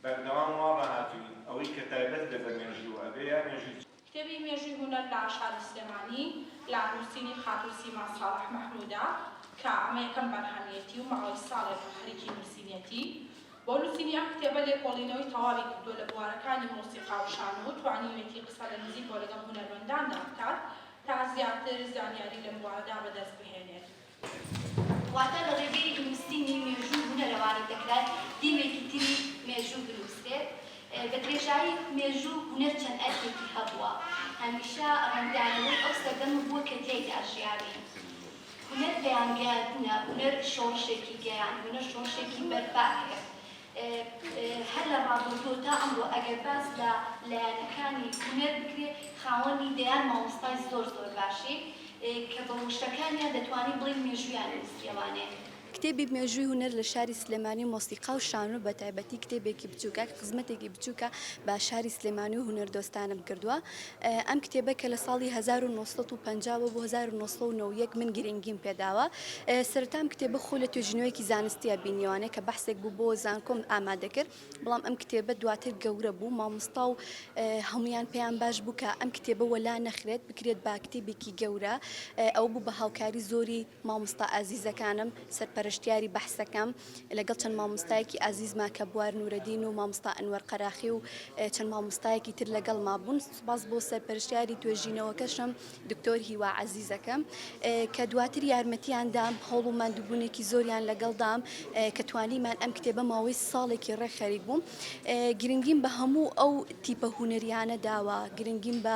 بەردەوام وا ڕاهاتووین ئەوەی کە تایبەت بێ بە مێژوو ئەبێ یا مێژووی چ. کتێبی مێژووی هونەر لە شاری سلێمانی لە نووسینی خاتوو سیما ساڵح مەحموودە کە ئەمە یەکەم بەرهەمیەتی و ماوەی ساڵێکە خەریکی نووسینیەتی بۆ نووسینی ئەم کتێبە لێکۆڵینەوەی تەواوی کردووە لە بوارەکانی مۆسیقا و شانۆ و توانیوێتی قسە لە نزیکەوە لەگەڵ هونەرمەنداندا بکات تا زیاتر زانیاری لەم بوارەدا بەدەست بهێنێت. واتە لە ڕێگەی نووسینی مێژوو هونەرەوانی دەکرای دیوێکی تری مێژوو بنووسرێت. بە درێژایی مێژوو هونەر چەند ئەرکێکی هەبووە، هەمیشە ڕەنگدانەوەی ئەو سەردەمە بووە کە تیایدا ژیاوین. هونەر پەیامگەیاندنە، هونەر شۆڕشێکی گەیاند، هونەر شۆڕشێکی بەرپا کرد. هەر لە ڕابردوو تا ئەمڕۆ ئەگەر باس لە لایەنەکانی هونەر بکرێ خاوەنی دەیان مامۆستای زۆر زۆر باشین کە بە وشەکانیان دەتوانین بڵێین مێژوویان نووسیەوانێ. کتێبی مێژووی هونەر لە شاری سلێمانی و مۆسیقا و شانۆ بە تایبەتی کتێبێکی بچووکە کە خزمەتێکی بچووکە بە شاری سلێمانی و هونەردۆستانم کردووە ئەم کتێبە کە لە ساڵی هەزار و نۆ سەد و پەنجا وە بۆ هەزار و نۆ سەد و نەوە و یەک من گرینگیم پێ داوە. سەرەتا ئەم کتێبە خۆی لە توێژینەوەیەکی زانستییە بینیوانە کە بەحسێک بوو بۆ زانکۆم ئامادە کرد، بەڵام ئەم کتێبە دواتر گەورە بوو، مامۆستا و هەموویان پێیان باش بوو کە ئەم کتێبە وەلا نەخرێت، بکرێت بە کتێبێکی گەورە. ئەوە بوو بە هاوکاری زۆری. مامۆستا ئازیزەکانم، سەرپەرشتیاری بەحسەکەم، لەگەڵ چەند مامۆستایەکی ئازیز ماکە بوار نورەدین و مامۆستا ئەنوەر قەراخی و چەند مامۆستایەکی تر لەگەڵما بوون، سوپاس بۆ سەرپەرشتیاری توێژینەوەکەشم دکتۆر هیوا عەزیزەکەم کە دواتر یارمەتیان دام، هەوڵ و ماندووبوونێکی زۆریان لەگەڵ دام کە توانیمان ئەم کتێبە ماوەی ساڵێکی ڕێک خەریک بووم، گرنگیم بە هەموو ئەو تیپە هونەریانە داوە، گرنگیم بە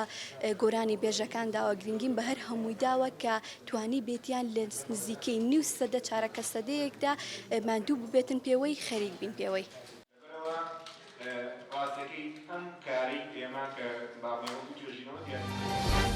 گۆرانیبێژەکان داوە، گرنگیم بە هەر هەمووی داوە کە توانیبێتیان لە نزیکەی نیو سەدە چارەکە سەدەیەکدا ماندوو ببێتن پێوەی، خەریک بین پێوەی. لەبەرئەوە ڕاستیەکەی ئەم کارەی ئێمە کە باڵوێڕ و توێژینەوە دیاریکردنی.